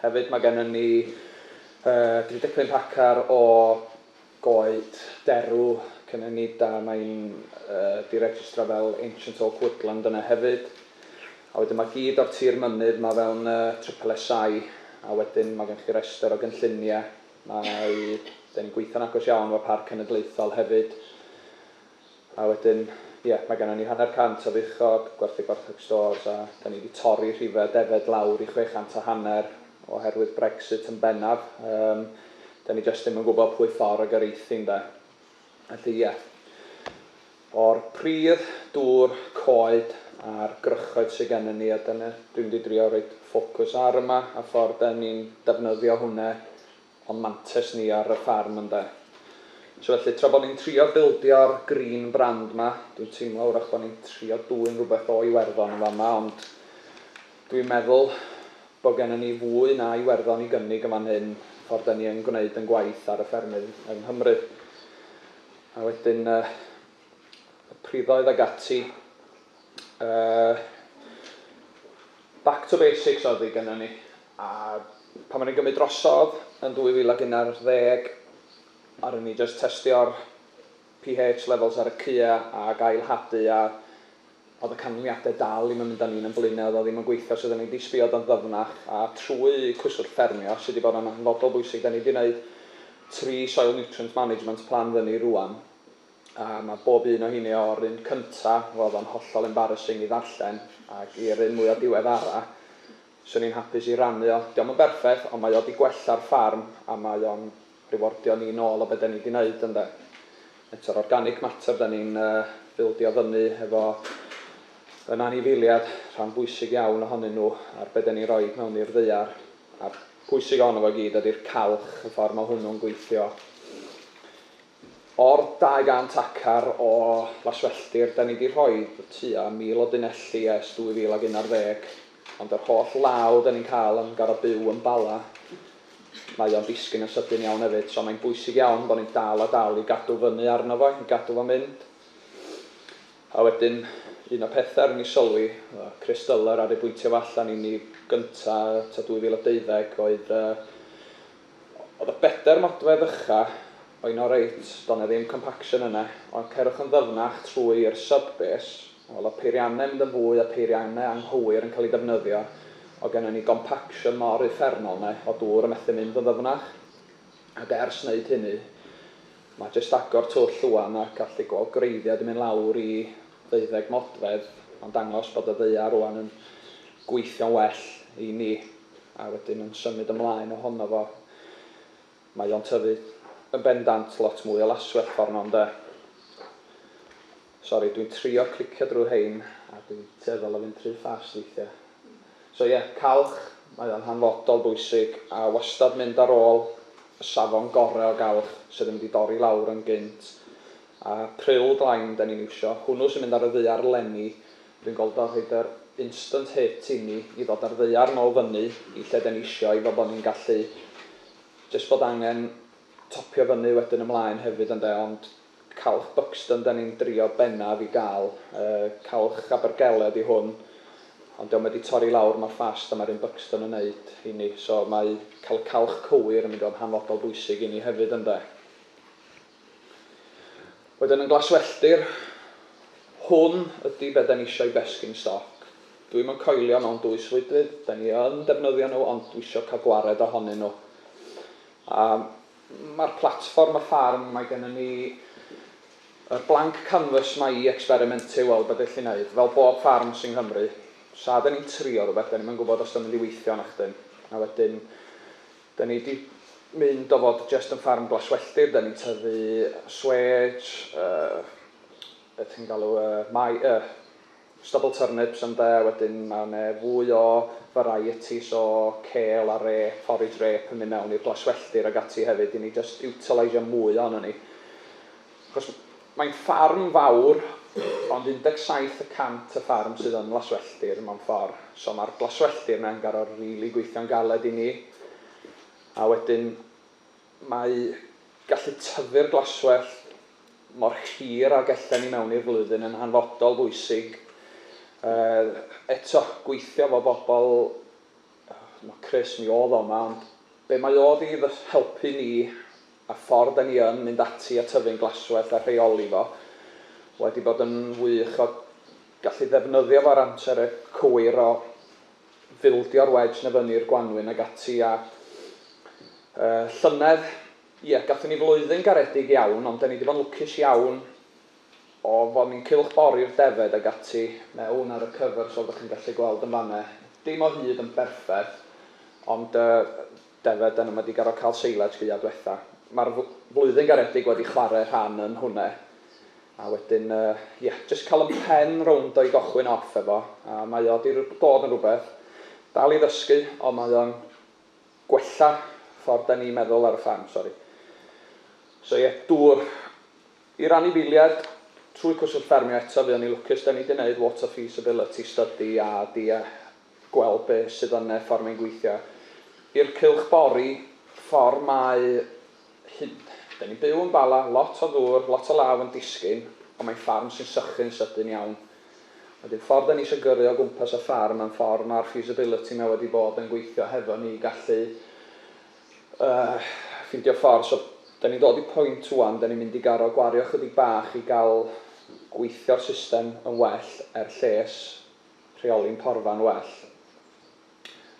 Hefyd mae gennym ni 35 hacar o goed derw cynhenid a mae'n diregistra fel Ancient Oak Woodland yna hefyd. A wedyn mae gyd o'r tir mynydd mae fewn Triple SI a wedyn mae gennych chi rester o gynlluniau. Mae... 'da ni'n gweithio'n agos iawn efo Parc Cenedlaethol hefyd. A wedyn, ie, mae gennon ni hanner cant o fuchod, gwerthu gwartheg stores, a dan ni wedi torri rhifau defaid lawr i chwe chant a hanner oherwydd Brexit yn bennaf. Yym, dan ni jyst ddim yn gwybod pwy ffordd y gyrraethu, ynde. Felly, ie, o'r pridd, dŵr, coed a'r gwrychoedd sydd gennon ni, a dyna, dwi'n mynd i drio rhoi ffocws ar yma, a ffordd dan ni'n defnyddio hwnna o'n mantes ni ar y ffarm ynde? So felly tra bod ni'n trio bildio'r green brand 'ma, dwi'n teimlo wrach bod ni'n trio dwyn rhywbeth o Iwerddon yn fama ond dwi'n meddwl bod gennym ni fwy na Iwerddon i gynnig yn fan hyn ffordd da ni yn gwneud yn gwaith ar y ffermydd yng Nghymru. A wedyn yy y priddoedd ag ati yy back to basics oedd hi gynnon ni. A pan o'n i'n gymryd drosodd yn 2011, aru ni jyst testio'r pH levels ar y cua ag ail hadu a o'dd y canlyniade dal ddim yn mynd â ni'n yn Blaenau, o'dd o ddim yn gweithio so 'da ni 'di sbio do'n ddyfnach a trwy Cyswllt Ffermio sy 'di bod yn hanfodol bwysig 'da ni 'di neud tri soil nutrient management plan fyny rŵan a ma' bob un o heini o'r un cynta' o'dd o'n hollol embarrassing i ddarllen ag i'r un mwya' diweddara Swn i'n hapus i rannu o. Dio'm yn berffeth, ond mae o 'di gwella'r ffarm a mae o'n riwardio ni nôl o be' 'den ni 'di neud ynde? Eto'r organic matter 'den ni'n bildio fyny efo yn anifeiliad, rhan bwysig iawn ohonyn nhw ar be' 'den ni'n roid mewn i'r ddaear, a'r pwysig ohono fo i gyd ydi'r calch, y ffordd ma' hwnnw'n gweithio. O'r 200 acar o laswelltir, 'da ni 'di rhoi tua 1,000 o dunelli ers 2011, ond yr holl law 'da ni'n cael yn gorfod byw yn Bala. Mae o'n disgyn yn sydyn iawn hefyd, so mae'n bwysig iawn bod ni'n dal a dal i gadw fyny arno fo, i gadw fo'n mynd. A wedyn, un o'r pethau ry'n ni sylwi, y crys dyler ar ei bwyntio fo allan i ni gynta' ta 2012 oedd y Oedd y bedair modfedd ucha o un o reit, do na ddim compaction yna, ond cerwch yn ddyfnach trwy i'r sub base, wel o peirianne mynd yn fwy a peirianne anghywir yn cael ei defnyddio, oedd genna ni gompaction mor uffernol na oedd dŵr yn methu mynd yn ddyfnach, ac ers wneud hynny, mae jyst agor twll ŵan ac allu gweld gwreiddiau di mynd lawr i ddeuddeg modfedd yn dangos bod y ddaear rŵan yn gweithio'n well i ni a wedyn yn symud ymlaen ohono fo. Mae o'n tyfu yn bendant lot mwy o laswellt ffordd yno ynde? Sori, dwi'n trio clicio drwy rhein a dwi'n tueddol o fynd rhy fast weithiau. So ie, calch, mae o'n hanfodol bwysig a wastad mynd ar ôl y safon gorau o galch sydd yn mynd i dorri lawr yn gynt A Pryl Glain dan ni'n iwsio. Hwnnw sy'n mynd ar y ddaear 'leni. Dwi'n gweld o'n rhoid yr instant hit i ni i ddod â'r ddaear nôl fyny i lle dan ni isio i fel bod ni'n gallu jyst bod angen topio fyny wedyn ymlaen hefyd ynde ond Calch Buxton dan ni'n drio bennaf i gael. Yy Calch Abergele ydi hwn ond dio'm wedi torri lawr mor fast a mae'r un Buxton yn neud i ni so mae cael y calch cywir yn mynd i fod yn hanfodol bwysig i ni hefyd ynde. Wedyn yn glaswelltir, hwn ydi be da ni isio i besgyn stoc. Dwi ddim yn coelio mewn dwy swydfyd, da ni yn defnyddio nhw ond dwi isio cael gwared ohonyn nhw. A mae'r platfform y ffarm, mae gennym ni yr blank canvas ma i experimentu weld be da ni'n gallu neud, fel bob ffarm sy'n Nghymru. Sa da ni'n trio rhywbeth, da ni'm yn gwybod os da ni'n mynd i weithio nachdyn. A wedyn Da ni 'di mynd o fod jest yn ffarm glaswelltir, da ni'n tyfu swêj, be ti'n galw e, mai- yy stubble turnips ynde, a wedyn ma' 'ne fwy o varieties o kale a rê, forage rê, yn mynd mewn i'r glaswelltir ag ati hefyd i ni jest iwtileisio mwy ohonon ni. Achos Mae'n ffarm fawr, ond 17 y cant y ffarm sydd yn laswelltir, mewn ffordd. So mae'r glaswelltir 'na'n gor'o' rili gweithio'n galed i ni. A wedyn mae gallu tyfu'r glaswellt mor hir ag ellen ni mewn i'r flwyddyn yn hanfodol bwysig. Yy eto, gweithio 'fo bobl, ch'mo' Chris, mi o'dd o 'ma, ond be' mae o 'di fy helpu ni A ffordd da ni yn mynd ati a tyfu'n glaswellt a rheoli fo, wedi bod yn wych o gallu ddefnyddio fo ar amser y cywir o fildio'r wedge 'na fyny i'r gwanwyn ag ati a yy llynedd ie gathon ni flwyddyn garedig iawn ond 'da ni 'di bod yn lwcus iawn o fo' ni'n cylch bori'r defed ag ati mewn ar y cyfers fel 'da chi'n gallu gweld yn fan 'ne dim o hyd yn berffeth ond yy Defe, dyna mae 'di garo cael seilets fua dwetha. Mae'r flwyddyn garedig wedi chware rhan yn hwne. A wedyn, ie, jyst cael 'y mhen rownd o i gochwyn off efo, a mae o 'di dod yn rhywbeth. Dal i ddysgu, ond mae o'n gwella ffordd 'da ni'n meddwl ar y ffarm, sori. So ie, dŵr i'r anifeiliaid trwy Cwswllt Ffermio eto, fuon ni lwcus, 'da ni 'di neud water feasibility study a 'di gweld be sydd yn e ffor mae'n gweithio. I'r cylch bori, ffor mae hyn, da ni'n byw yn Bala, lot o ddŵr, lot o law yn disgyn, ond mae'n ffarm sy'n sychu'n sydyn iawn. Wedyn ffor da ni eisiau gyrru o gwmpas y ffarm a'n ffor mae'r feasibility na wedi bod yn gweithio hefo ni i gallu yy ffindio ffor, so da ni'n dod i pwynt ŵan da ni'n mynd i garo gwario chydig bach i gael gweithio'r system yn well er lles. rheoli'n porfa'n well.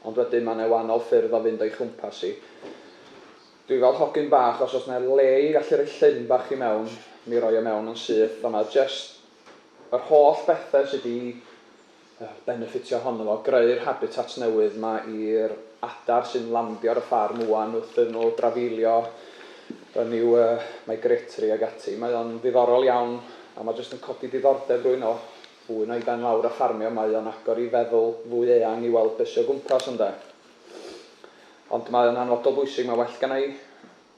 Ond wedyn mae 'na wahanol ffyrdd o fynd o'i chwmpas hi. Dwi fel hogyn bach, os oes 'na le i gallu rhoi llyn bach i mewn, mi roi o mewn yn syth, ond mae jest yr holl bethe sy' 'di benefitio ohono fo, greu'r habitat newydd 'ma i'r adar sy'n landio ar y ffarm ŵan wrth iddyn nhw drafeilio yn i'w migratory ag ati. Mae o'n ddiddorol iawn a mae jest yn codi diddordeb rywun o Fwy na i ben lawr a ffarmio mae o'n agor i feddwl fwy eang i weld be sy o gwmpas ynde? Ond mae o'n hanfodol bwysig, mae well genna i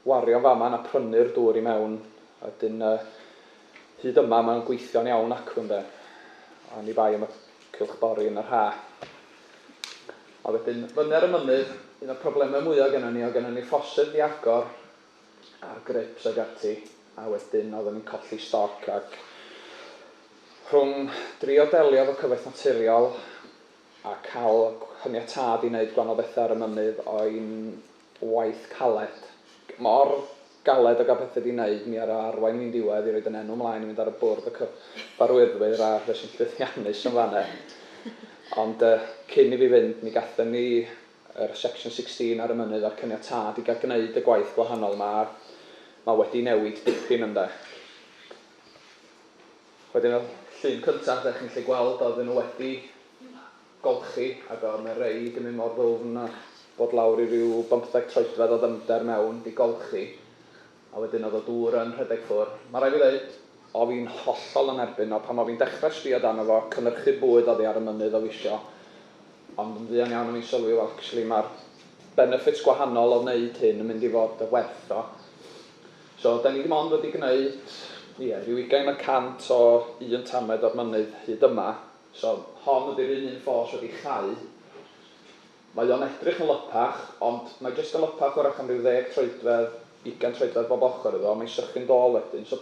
wario fama na prynu'r dŵr i mewn ydyn yy hyd yma mae o'n gweithio'n iawn acw ynde? Oni bai am y cylch bori yn yr ha. A wedyn fyny ar y mynydd, un o'r problemau mwya' genna ni o genna ni ffosydd 'di agor a'r grips ag ati a wedyn oedden ni'n colli stoc ac rhwng drio delio efo cyfoeth naturiol a cael hyniatâd i wneud gwahanol bethau ar y mynydd o'n waith caled, mor galed o gael pethau di wneud, mi ar o arwain fi'n diwedd i roed yn enw mlaen i fynd ar y bwrdd y cyfarwyddwyr a fe sy'n llwyddiannus yn fanne. Ond yy cyn i fi fynd mi gathen ni yr Section 16 ar y mynydd a'r caniatâd i gael gwneud y gwaith gwahanol 'ma, mae wedi newid dipyn ynde. Wedyn y llun cyntaf dach chi'n gallu gweld oedden nhw wedi golchi ac oedd 'na rei di mynd mor ddwfn a bod lawr i ryw bymtheg troedfedd o ddyfnder mewn, di golchi. A wedyn oedd y dŵr yn rhedeg ffwr. Ma raid fi ddeud, o fi'n hollol yn erbyn o, pan o fi'n dechra sbio dano fo, cynyrchu bwyd oddi ar y mynydd o fisio, ond yn fuan iawn o fi'n sylwi wel actually ma'r benefits gwahanol o wneud hyn yn mynd i fod y werth o. So da ni dim ond wedi gwneud, ie, ryw ugain y cant o un tamed o'r mynydd hyd yma, so hon ydi'r un un ffos wedi chau, Mae o'n edrych yn lypach, ond mae jyst yn lypach wrach am ryw ddeg troedfedd, ugain troedfedd bob ochr iddo, mae'n sychu'n dôl wedyn, so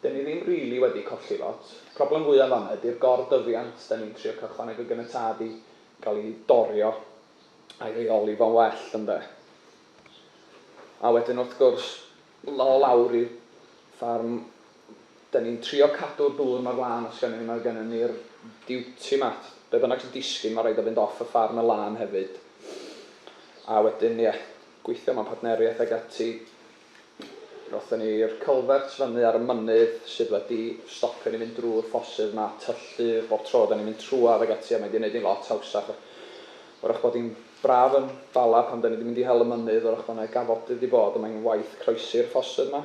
'den ni ddim rili wedi colli lot. Problem fwya fan'na ydi'r gor-dyfiant, 'den ni'n trio cael chwaneg o geniât i gael i dorio a'i reoli fo'n well, ynde? A wedyn wrth gwrs, 'ma o lawr i'r ffarm, 'da ni'n trio cadw'r dŵr 'ma ar lân os gennym ni, mae gennym ni'r duty 'ma, be' bynnag sy'n disgyn ma' raid o fynd off y ffarm yn lân hefyd, a wedyn ie, gweithio mewn partneriaeth ag ati, rothon ni'r culverts fyny ar y mynydd sydd wedi stopio ni fynd drw'r ffosydd 'ma, tyllu bob tro 'da ni'n mynd trwad ag ati a mae 'di neud ni'n lot hawsach, 'w'rach bod hi'n Braf yn Bala pan 'da ni 'di mynd i hel y mynydd o'r ochbanau gafodydd 'di bod a mae hi'n waith croesi'r ffosydd 'ma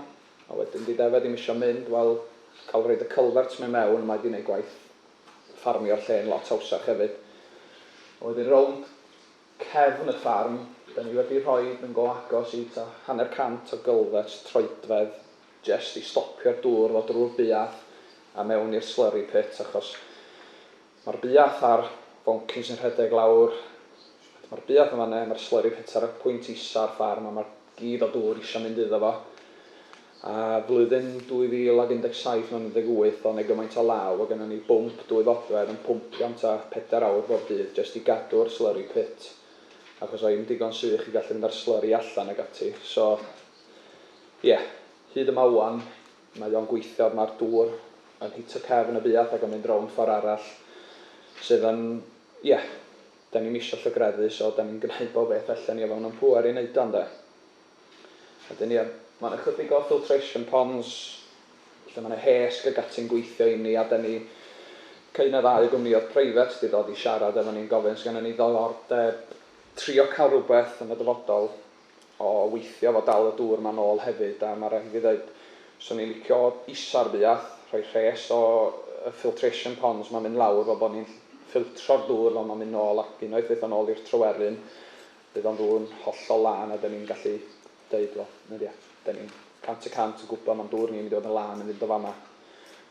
a wedyn 'di defaid ddim isio mynd wel cael rhoid y culverts 'ma i mewn mae 'di 'neud gwaith ffarmio'r lle'n lot hawsach hefyd a wedyn rownd cefn y ffarm 'da ni wedi rhoid yn go agos i ta hanner cant o gylfets troedfedd jest i stopio'r dŵr ddod drw'r buath a mewn i'r slurry pit achos Mae'r buath a'r foncyn sy'n rhedeg lawr at mae'r buath yn fan 'na, mae'r slurry pit ar y pwynt isa'r ffarm a mae gyd o dŵr isio mynd iddo fo. A flwyddyn 2017 mewn 18 o' 'ne gymaint o law o' gynnon ni bwmp dwy fodfedd yn pwmpio am ta pedair awr bob dydd jyst i gadw'r slurry pit achos oedd hi'm digon sych i gallu mynd â'r slurry allan ag ati so ie hyd yma ŵan Mae o'n gweithio ond mae'r dŵr yn hito cefn y buarth ac yn mynd rownd ffordd arall sydd yn, ie, 'da ni'm isio llygreddu so 'da ni'n gneud bob beth allen ni o fewn yn pŵer i neud o ynde? Wedyn ie, ma' 'na chydig o filtration ponds lle ma' 'na hesg ag ati'n gweithio i ni a 'da ni cyn y ddau gwmnïodd preifat 'di dod i siarad efo ni'n gofyn os gynnon ni ddyddordeb trio ca'l rwbeth yn y dyfodol o weithio fo dal y dŵr ma nôl hefyd a ma raid i fi ddeud swn i'n licio isa'r buath rhoi rhes o y filtration ponds ma'n mynd lawr fel bo ni'n ffiltro'r dŵr fel ma'n mynd nôl ac unwaith fyth o nôl i'r tryweryn bydd o'n ddŵrn hollol lân a da ni'n gallu deud wel na dia da ni'n cant y cant yn gwbo ma'n dŵr ni'n mynd i fod yn lân yn fynd o fama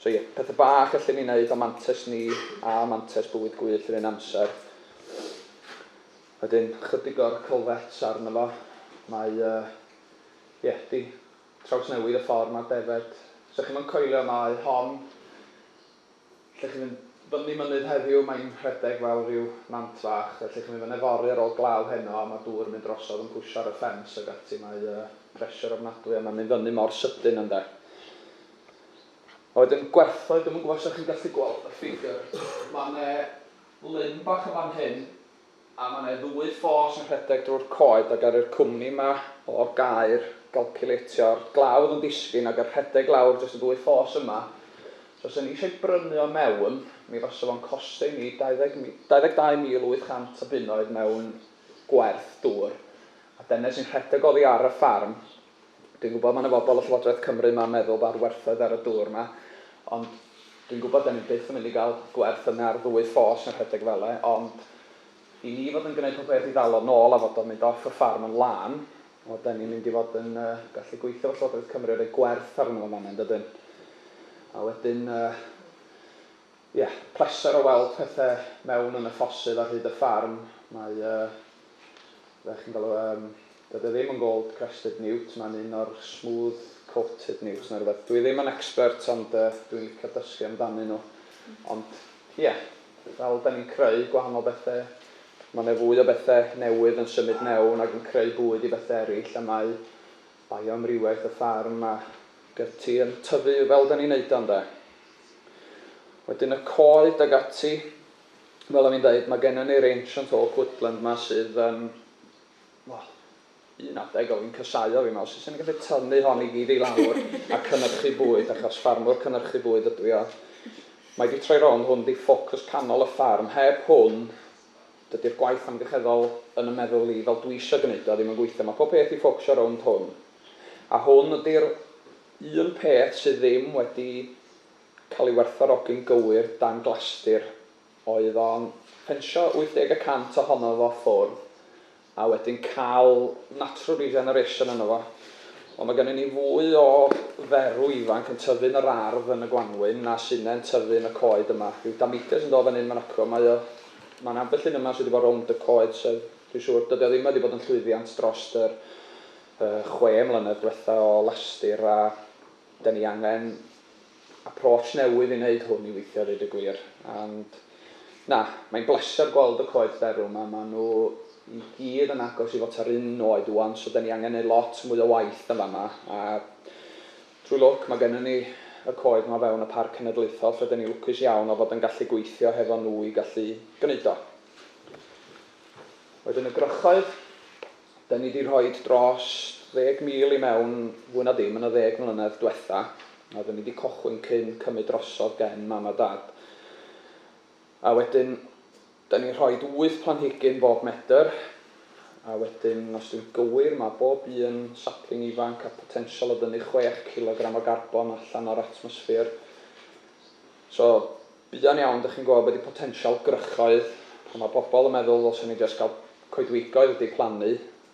so ie pethe bach allen ni neud o mantes ni a mantes bywyd gwyllt yr un amser Wedyn chydig o'r culverts arno fo. Mae yy ie 'di trawsnewid y ffor ma'r defaid, sa chi'm yn coelio mae hon lle chi'n mynd fyny mynydd heddiw mae'n rhedeg fel rhyw nant fach felly chi'n mynd fan 'na yfory ar ôl glaw heno a ma' dŵr yn mynd drosodd yn pwsio ar y ffens ag ati mae yy pressure ofnadwy a ma'n mynd fyny mor sydyn ynde. A wedyn gwerthoedd dwi'm yn gwbo os 'da chi'n gallu gweld y ffigur ma' 'ne lyn bach yn fan hyn A mae 'na ddwy ffos yn rhedeg drwy'r coed a garu'r cwmni 'ma o gaer galciwleitio a'r glawdd yn disgyn ac yn rhedeg lawr dros y ddwy ffos yma. Os fyswn ni eisiau brynu o mewn, mi fasa fo'n costio i ni 20 mi- 22,800 o bunnoedd mewn gwerth dŵr, a dene sy'n rhedeg oddi ar y ffarm. Dwi'n gwybod, mae yna bobl o Llywodraeth Cymru 'ma'n meddwl bod werthoedd ar y dŵr 'ma, ond dwi'n gwybod 'dan ni byth yn mynd i gael gwerth yna ar ddwy ffos na rhedeg fele, ond i ni fod yn gwneud pob peth i ddal o nôl a fod o'n mynd off y ffarm yn lân, wel, 'dan ni'n mynd i fod yn gallu gweithio efo Llywodraeth Cymru a rhoi gwerth arno fo'n fan'na, yn dydyn? A wedyn, ie, pleser o weld pethe mewn yn y ffosydd ar hyd y ffarm, mae fel chi'n galw e, yym, doedd e ddim yn gold crested newt, mae'n un o'r smooth coated newts neu rhywbeth. Dwi ddim yn expert ond uh, dwi'n licio dysgu amdanyn nhw. Ond, ie, yeah, fel da ni'n creu gwahanol bethau, mae yna fwy o bethau newydd yn symud mewn ac yn creu bwyd i bethau eraill a mae bioamrywiaeth y ffarm a gyty yn tyfu fel da ni'n neud o, ynde? Wedyn y coed ag ati, Fel o'n i'n deud, mae gennym ni'r Ancient Oak Woodland 'ma sydd yn, wel, un adeg oedd hi'n casáu o fi'n meddwl, sut 'sen ni'n gallu tynnu hon i gyd i lawr a cynyrchu bwyd, achos ffarmwr cynyrchu bwyd ydw i, ond mae 'di troi rownd, hwn 'di ffocws canol y ffarm, heb hwn, dydy'r gwaith amgylcheddol yn 'y meddwl i, fel dwi isio gwneud o, ddim yn gweithio, mae pob peth 'di ffocwsio rownd hwn, a hwn ydy'r un peth sydd ddim wedi cael ei werthfawrogi'n gywir dan glastir oedd o'n ffensio 80 y cant ohono fo ffwrdd a wedyn cael natural regeneration yno fo. Wel mae gennyn ni fwy o ferw ifanc yn tyfu yn yr ardd yn y gwanwyn na sy' 'ne'n tyfu yn y coed yma. Rhyw dameidiau sy'n dod fan hyn, fan acw, mae o, mae 'na ambell un yma sy' 'di bod rownd y coed so dwi'n siŵr dydi o ddim wedi bod yn llwyddiant dros yr yy chwe mlynedd dwetha o lastir a 'den ni angen approach newydd i wneud hwn i weithio a dweud y gwir. Ond na, mae'n bleser gweld y coed derw 'ma, maen nhw i gyd yn agos i fod tua'r un oed ŵan, so 'da ni angen neud lot mwy o waith yn fama, a drwy lwc mae gennym ni y coed 'ma o fewn y Parc Cenedlaethol lle 'da ni lwcus iawn o fod yn gallu gweithio hefo nhw i gallu gwneud o. Wedyn y gwrychoedd. 'Da ni 'di rhoi dros ddeg mil i mewn fwy na dim yn y ddeg mlynedd dwetha, a oedden ni 'di cochwyn cyn cymyd drosodd gen mam a dad. A wedyn, 'da ni'n rhoi wyth planhigyn bob medr, a wedyn, os dwi'n gywir, mae bob un sapling ifanc â potensial o ddynnu chwech cilogram o garbon allan o'r atmosffer. So, Buan iawn dych chi'n gweld be di potensial gwrychoedd a ma pobl yn meddwl ddylsen ni jyst gael coedwigoedd wedi plannu,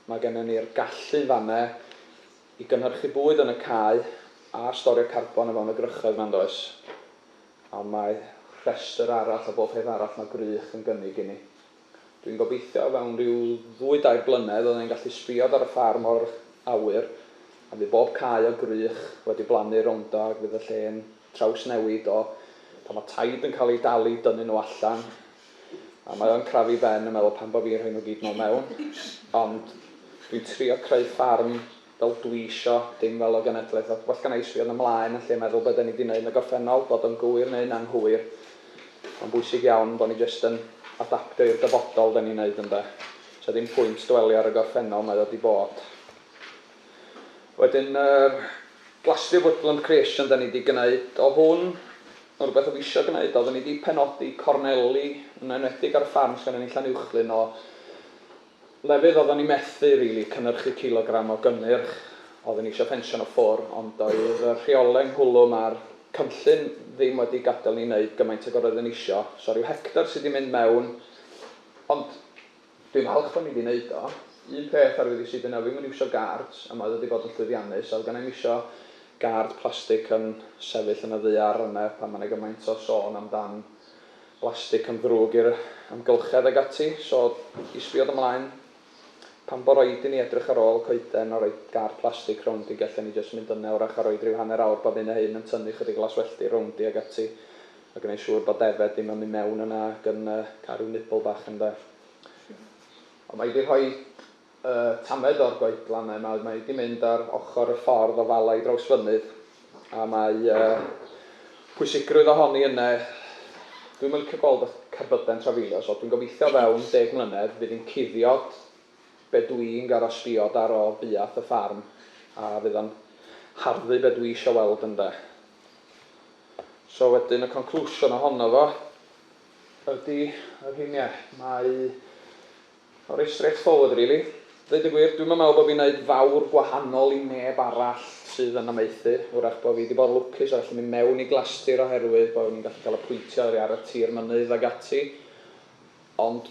ma gennym ni'r gallu yn fanne i gynhyrchu bwyd yn y cae a storio carbon o fewn y gwrychoedd ma yndoes? Ond mae rhestr arall o bob peth arall ma gwrych yn gynnig inni. Dwi'n gobeithio o fewn ryw ddwy dair blynedd fydden ni'n gallu sbïod ar y ffarm o'r awyr a fydd bob cae o gwrych wedi blannu rowndo ac fydd y lle'n trawsnewid o pan mae taid yn cael eu dal i dynnu nhw allan, a mae o'n crafu Ben yn meddwl pam bo fi'n rhoi nhw gyd nol mewn, ond dwi'n trio creu ffarm fel dwi isio, dim fel y genedlaeth, a well gynna i sbio yn y mlaen yn lle meddwl be da ni di neud yn y gorffennol, bod o'n gywir neu'n anghywir, mae'n bwysig iawn bo ni jyst yn adaptio i'r dyfodol da ni'n neud ynde, so ddim pwynt dwelio ar y gorffennol, mae o di bod. Wedyn yr Glastir Woodland Creation 'da ni 'di gneud o hwn, ma' rwbeth o'f isio gneud o, odden ni 'di penodi corneli, yn enwedig ar y ffarm sgynnon ni Llanuwchllyn o lefydd odden ni methu rili cynyrchu cilogram o gynnyrch, odden ni isio ffensio nhw ffwr ond doedd y rheole ynghlwm a'r cynllun ddim wedi gadel ni neud gymaint ag yr oeddwn isio, so ryw hectar sy 'di mynd mewn ond Dwi'n falch bo' ni 'di neud o. Un peth ar wedi sydd yna ddim yn iwsio guards a mae wedi bod yn llwyddiannus a oedd genai'm isio guard plastic yn sefyll yn y ddaear yna pan mae 'na gymaint o sôn amdan blastic yn ddrwg i'r amgylchedd ag ati so i sbio dy mlaen pan bo raid i ni edrych ar ôl coeden a roid guard plastic rownd i gellen ni jyst mynd yna wrach a roid rhyw hanner awr bob hyn a hyn yn tynnu chydig laswellti rownd i ag ati a gwneu siwr bod defaid ddim yn mynd mewn yna ac yn cael rhyw nibl bach ynde. Ond mae hi 'di rhoi y tamaid o'r goedlanau 'ma, mae hi 'di mynd ar ochr y ffordd o Fala i Drawsfynydd, a mae y pwysigrwydd ohoni yna, dwi'm yn licio gweld y cerbydau'n trafeilio, so dwi'n gobeithio fewn deg mlynedd fydd hi'n cuddio be dwi'n gorfod sbio daro buath y ffarm, a fydd o'n harddu be dwi isio weld ynde. So wedyn y conclusion ohono fo ydy y rheiniau. Mae o reit straight forward rili. Dweud y gwir, dwi'm yn meddwl bod fi'n neud fawr gwahanol i neb arall sydd yn amaethu. Wrach bod fi wedi bod yn lwcus a gallu mynd mewn i glastir oherwydd bod ni'n gallu cael apwyntio oddi ar y tir mynydd ag ati. Ond